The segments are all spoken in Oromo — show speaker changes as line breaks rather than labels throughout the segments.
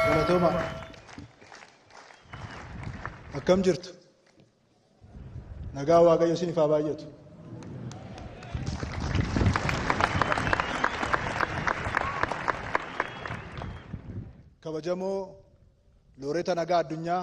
Galatooma. Akkam jirtu? Nagaa Waaqayyo isiniif haa baay'atu. Kabajamoo looreeta nagaa addunyaa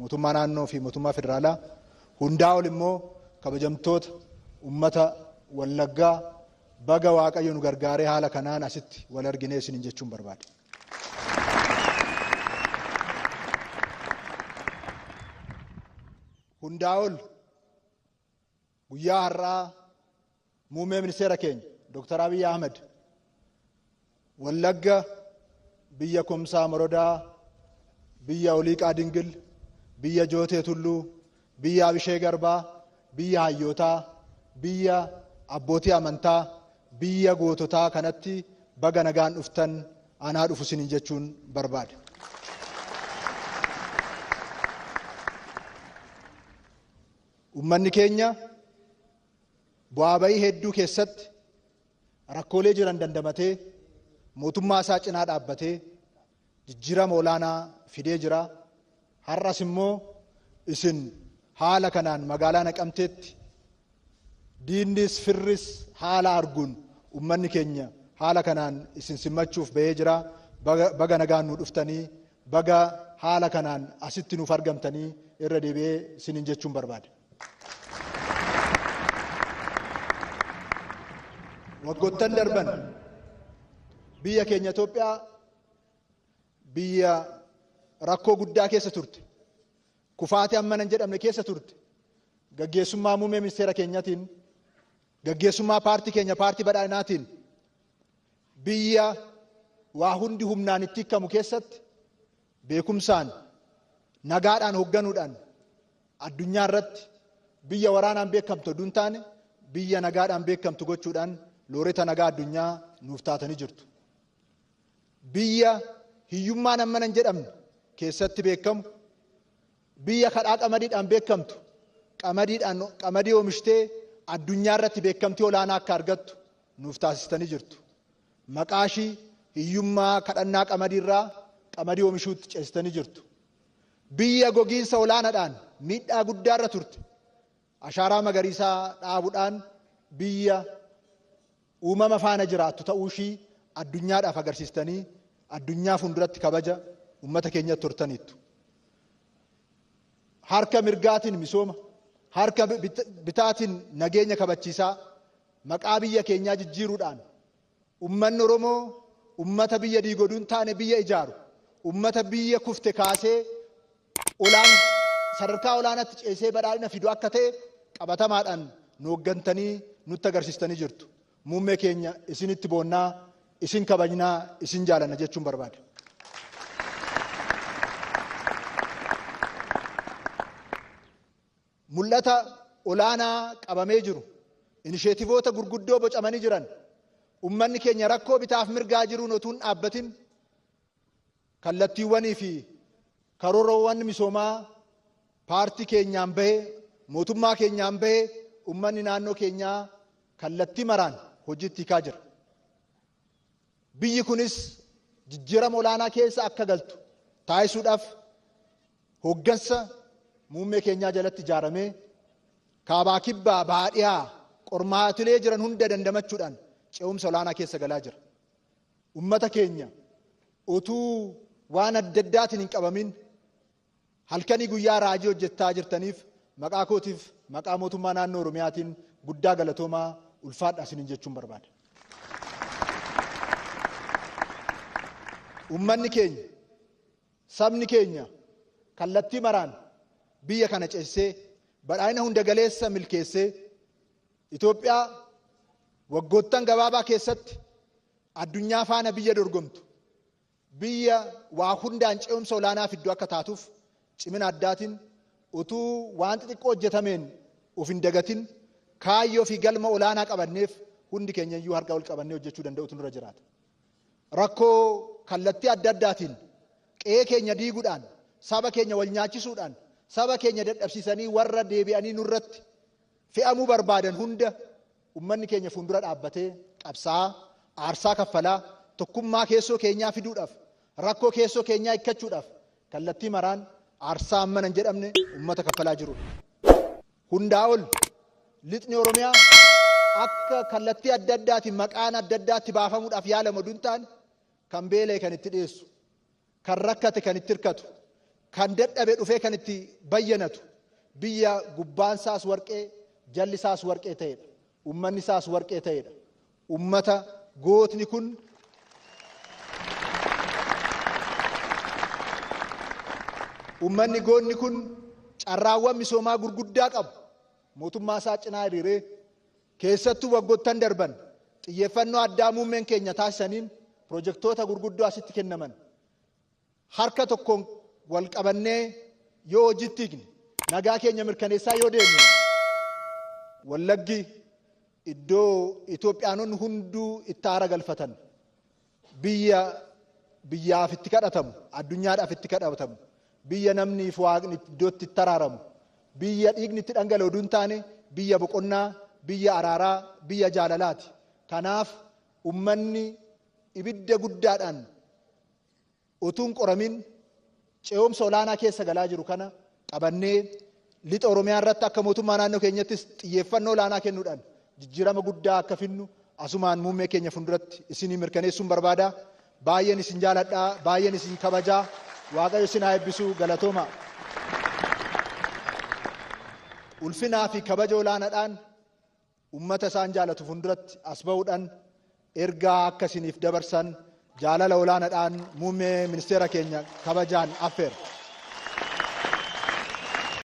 Mootummaa Naannoo fi Mootummaa Federaalaa hundaa ol immoo kabajamtoota ummata Wallaggaa baga Waaqayyo nu gargaaree haala kanaan asitti wal arginee isiniin jechuun barbaada. Hundaa ol Guyyaa har'aa Muummee Ministeera keenya Dr. Abiy Ahmed Wallagga biyya Kumsaa Morodaa, biyya Oliiqaa Dingil, biyya Jootee Tulluu, biyya Abishee Garbaa, biyya hayyootaa, biyya abbootii amantaa, biyya goototaa kanatti baga nagaan dhuftan anaa dhufu isiniin jechuun barbaada. Ummanni keenya bu'aa ba'ii hedduu keessatti rakkoolee jiran dandamatee mootummaa isaa cinaa dhaabbatee jijjiirama olaanaa fidee jira. Har'as immoo isin haala kanaan magaalaa Naqamteetti diinnis firris haala arguun ummanni keenya haala kanaan isin simmachuuf ba'ee jira. Baga nagaan nu dhuftanii Baga haala kanaan asitti nuuf argamtanii irra deebi'ee isiniin jechuun barbaada. Waggoottan darban biyya keenya Itoophiyaa biyya rakkoo guddaa keessa turte, kufaatii hammana hin jedhamne keessa turte, gaggeessummaa muummee ministeera keenyatiin, gaggeessummaa paartii keenya paartii badhaadhinaatiin Biyya waa hundi humnaan itti hikkamu keessatti beekumsaan, nagaadhaan hogganuudhaan addunyaa irratti biyya waraanaan beekamtu oduu hin taane biyya nagaadhaan beekamtu gochuudhaan looreta nagaa addunyaa nuuf taatanii jirtu. Biyya hiyyummaan hammana hin jedhamne keessatti beekamu, Biyya kadhaa qamadiidhaan beekamtu qamadiidhaan qamadii oomishtee addunyaa irratti beekamtii olaanaa akka argattu nuuf taasistanii jirtu. Maqaa ishii hiyyummaa kadhannaa qamadii irraa qamadii oomishuutti ceesistanii jirtu. Biyya gogiinsa olaanaadhaan miidhaa guddaa irra turte Ashaaraa magariisaa dhaabudhaan biyya uumama faana jiraattu ta'uushii addunyaadhaaf agarsiistanii addunyaa fuulduratti kabaja ummata keenyatti hortaniittu. Harka mirgaatiin misooma, harka bitaatiin nageenya kabachiisaa maqaa biyya keenyaa jijjiiruudhaan Ummanni Oromoo ummata biyya diigu oduu hin taane biyya ijaaru, ummata biyya kufte kaasee olaan sadarkaa olaanaatti ceesee badhaadhina fidu akka ta'e qabatamaadhaan nu hoggantanii nutti agarsiistanii jirtu. Muummee keenya isinitti boonna, isin kabajna, isin jaalanna jechuun barbaada. Mul'ata olaanaa qabamee jiru, inisheetivoota gurguddoo bocamanii jiran, ummanni keenya rakkoo bitaaf mirgaa jiruun otuu hin dhaabbatin kallattiiwwanii fi karoorowwan misoomaa paartii keenyaan bahe, mootummaa keenyaan bahe ummanni naannoo keenyaa kallattii maraan hojiitti hiikaa jira. Biyyi kunis jijjiirama olaanaa keessa akka galtu taasisuudhaaf hooggansa muummee keenyaa jalatti ijaaramee kaabaa kibbaa bahaa dhihaa qormaatilee jiran hunda dandamachuudhaan ce'umsa olaanaa keessa galaa jira. Ummata keenya utuu waan adda addaatiin hin qabamin Halkanii guyyaa raajii hojjettaa jirtaniif maqaa kootiif maqaa mootummaa naannoo Oromiyaatiin guddaa galatoomaa ulfaadhaa isiniin jechuun barbaada. Ummanni keenya, sabni keenya kallattii maraan biyya kana ceessee badhaadhina hunda galeessa milkeessee Itoophiyaa waggoottan gabaabaa keessatti addunyaa faana biyya dorgomtu Biyya waa hundaan ce'umsa olaanaa fiddu akka taatuuf cimina addaatiin utuu waan xixiqqoo hojjetameen of hin dagatin kaayyoo fi galma olaanaa qabanneef hundi keenya iyyuu harka wal qabannee hojjechuu danda'uutu nurra jiraata. Rakkoo kallattii adda addaatiin qe'ee keenya diiguudhaan, saba keenya wal nyaachisuudhaan, saba keenya dadhabsiisanii warra deebi'anii nurratti fe'amuu barbaadan hunda, Ummanni keenya fuundura dhaabbatee qabsaa'aa, aarsaa kaffalaa, tokkummaa keessoo keenyaa fiduudhaaf, rakkoo keessoo keenyaa hikkachuudhaaf kallattii maraan aarsaa hammana hin jedhamne ummata kaffalaa jirudha. Hundaa ol Lixni Oromiyaa akka kallattii adda addaatiin maqaan adda addaa itti baafamuudhaaf yaalamu oduu hin taane kan beela'e kan itti dhiyeessu, Kan rakkate kan itti hirkatu, kan dadhabe dhufee kan itti bayyanatu, biyya gubbaan isaas warqee, jalli isaas warqee ta'edha. Ummanni isaas warqee ta'edha. Ummata gootni kun Ummanni gootni kun carraawwan misoomaa gurguddaa qabu mootummaa isaa cinaa hiriiree Keessattuu waggottan darban xiyyeeffannoo addaa muummeen keenya taasisaniin pirojektoota gurguddoo asitti kennaman harka tokkoon wal qabannee yoo hojiitti hiikne nagaa keenya mirkaneessaa yoo deemne Wallaggi iddoo Itoophiyaanonni hunduu itti aara galfatan Biyya biyyaaf itti kadhatamu, addunyaadhaaf itti kadhatamu, biyya namnii fi Waaqni iddoo itti itti araaramu, biyya dhiigni itti dhangala'u utuu hin taane biyya boqonnaa, biyya araaraa, biyya jaalalaati. Kanaaf ummanni ibidda guddaadhaan Utuu hin qoramin ce'umsa olaanaa keessa galaa jiru kana qabannee Lixa Oromiyaa irratti akka mootummaa naannoo keenyattis xiyyeeffannoo olaanaa kennuudhaan jijjiirama guddaa akka fidnu asumaan muummee keenya funduratti isinii mirkaneessuun barbaada. Baay'een isin jaaladha, baay'een isin kabaja. Waaqayyo isin haa eebbisu. Galatooma. Ulfinaa fi kabaja olaanaadhaan Ummata isaan jaalatu funduratti as ba'uudhan ergaa akka isiniif dabarsan jaalala olaanadhaan muummee ministeera keenya kabajaan affeera.